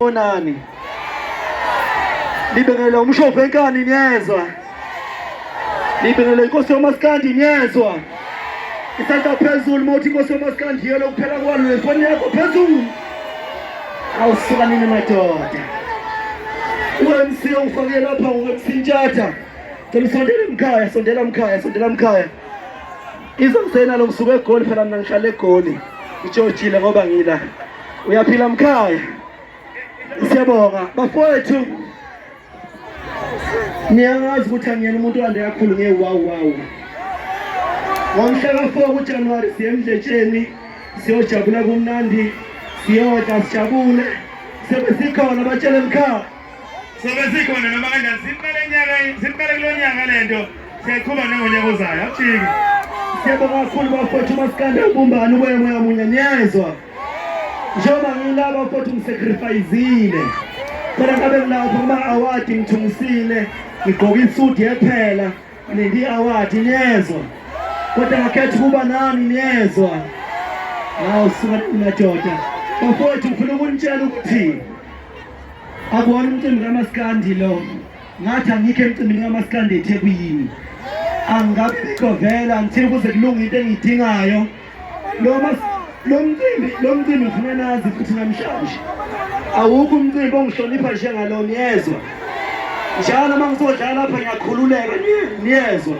Onani. Libengela umshopho enkani niyezwa. Libengela inkosi yomaskandi niyezwa. Isandla phezulu mawuthi inkosi yomaskandi yelo kuphela kwalo nefoni yakho phezulu. Awusuka nini madoda. UMC ufake lapha uMC Ntshatha. Ngicela usondele mkhaya, sondela mkhaya, sondela mkhaya. Izomsena lo ngisuke egoli phela mina ngihlala egoli. Ijojile ngoba ngila. Uyaphila mkhaya. Siyabonga bafowethu. Niyazi ukuthi angiyena umuntu ande kakhulu nge wow wow. Ngomhla ka 4 kuJanuary siye emdletsheni siyojabula kumnandi siyodla sijabule sebe sikhona batshele mkhaya sobe sikhona noma kanjani simele nyaka simele kulo nyaka lento siyayiqhuba nangonyaka ozayo akujiki siyabonga kakhulu bafowethu umasikande ubumbane uboya moya munye niyezwa njengoba ngilaba bafowethu ngisacrifayizile khona ngabe ngilapho kuma-awadi ngithungisile ngigqoke isudi yephela nindi i-awadi niyezwa kodwa ngakhetha ukuba nani niyezwa hawu suka nina doda bafowethu ngifuna ukunitshela ukuthi Akuwona umcimbi kamaskandi lo. Ngathi angikho emcimbini kamaskandi eThekwini. Angabe bikho vela ngithini kuze kulunge into engiyidingayo. Lo mas lo mcimbi lo mcimbi ngifuna nazi futhi namhlanje. Awukho umcimbi ongihlonipha njengalona yezwa. Njalo uma ngizodlala lapha ngiyakhululeka niyezwa.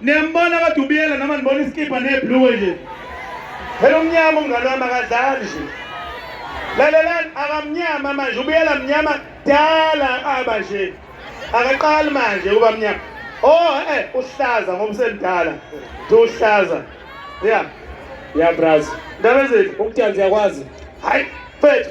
Niyambona kaDubiyela noma nibona isikibha neblue nje. Phela umnyama umngane wami akadlali nje. Lalelani akamnyama manje ubiyela mnyama dala aba nje. Akaqali manje uba mnyama. Oh eh uhlaza ngoba usemdala. Uhlaza. Yeah. Yeah braz. Ndabezeli ukuthanzi yakwazi. Hayi mfethu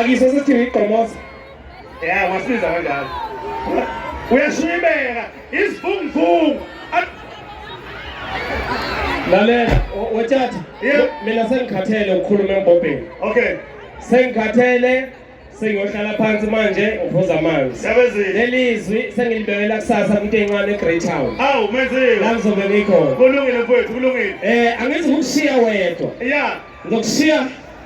Akise sithi igqomoza. Yeah, wasiza kanjalo. Uyashibeka isivunguvungu. Lalela, wethatha. Yeah. Mina sengikhathele ukukhuluma embobheni. Okay. Sengikhathele sengiyohlala phansi manje ngiphuza amanzi sebenzile lelizwi sengilibekela kusasa kumuntu encane eGreat Town awu menzile la ngizobe ngikhona kulungile mfowethu kulungile eh angithi ukushiya wedwa yeah ngizokushiya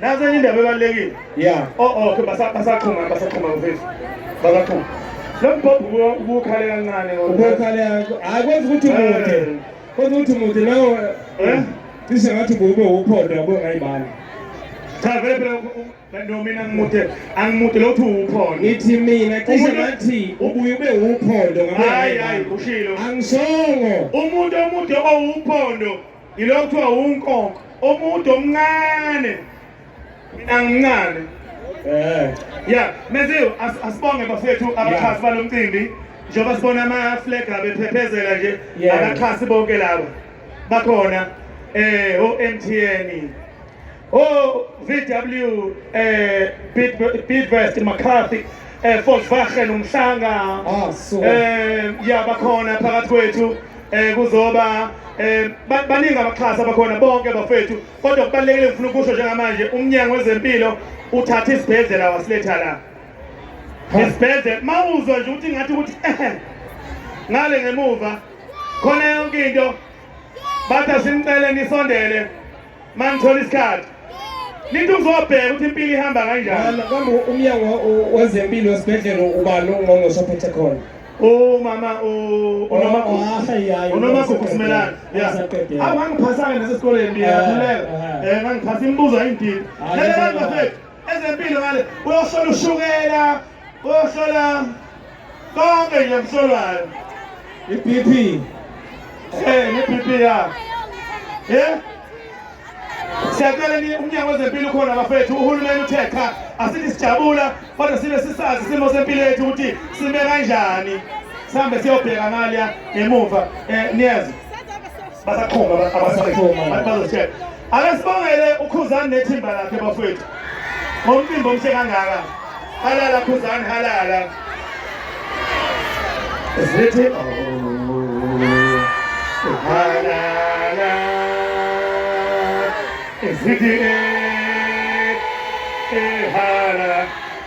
Nazi enye indaba ebalulekile. Yeah. Oh oh ke basa basaqhuma basaqhuma mfethu. Basaqhuma. Lo mbhobho ubukhale kancane ngoba. Ubukhale hayi kwenza ukuthi umude. Eh. Kwenza ukuthi umude nawo. Eh? Cishe ngathi kube uphondo yabo ngayibani. Cha vele phela Kanti mina ngimude angimude lothi uwuphondo. Ngithi mina cishe ngathi ubuye ube uwuphondo ngabe. Hayi hayi ushilo. Angisongo. Umuntu omude owuphondo Yilo kuthiwa unkonko omuntu omncane mina ngincane eh yeah meziwe asibonge bafethu abaxhasi balomcimbi njengoba sibona ama flag abephephezela nje abaxhasi bonke laba bakhona eh o MTN Oh, VW, eh, Bidvest, McCarthy, eh, Volkswagen, Umhlanga, ah, so. eh, yabakhona phakathi kwethu, eh, kuzoba eh baningi abaxhasa bakhona bonke bafethu kodwa kubalekile ngifuna ukusho njengamanje umnyango wezempilo uthatha isibhedlela wasiletha la isibhedlela mawuzwa nje ukuthi ngathi ukuthi eh, ngale ngemuva khona yonke into batha simcele nisondele mangithola isikhathi nithi uzobheka ukuthi impilo ihamba kanjani kambe umnyango wezempilo wesibhedlela ubani ungqongqoshe ophethe khona umama unomagugu simelane awu ngangiphasake nasesikoleni ngiyakhuleka um ngangiphasa imibuzo ayindidi lelebafethu ezempilo ngale uyohlola ushukela uyohlola konke nje msolwayo i-bp eh ne-bp yakho eh siyacela umnyango wezempilo ukhona bafethu uhulumeni uthe cha asithi sijabula kodwa sibe sisazi isimo sempilo yethu ukuthi sime kanjani sihambe siyobheka ngalya emuva um eh, niyazi basakhomba abasakhomba bazositshela Akasibongele ukhuzani nethimba lakhe bafowethu. Ngomcimbi omhle kangaka. Halala khuzani halala. Sithi halala. Sithi halala.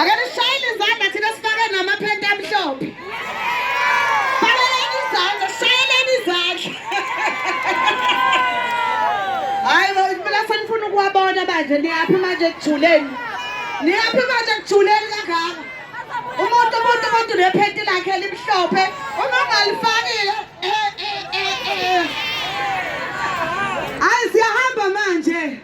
ake nishayele izandla thina sifake namaphenti amhlophe fakeleni izandla shayeleni izandla hayi bo impela senifuna ukuwabona manje niyaphi manje ekuthuleni niyaphi manje ekuthuleni kangaka umuntu umuntu umuntu nephenti lakhe elimhlophe uma ungalifakile eh, eh, eh, ayi siyahamba manje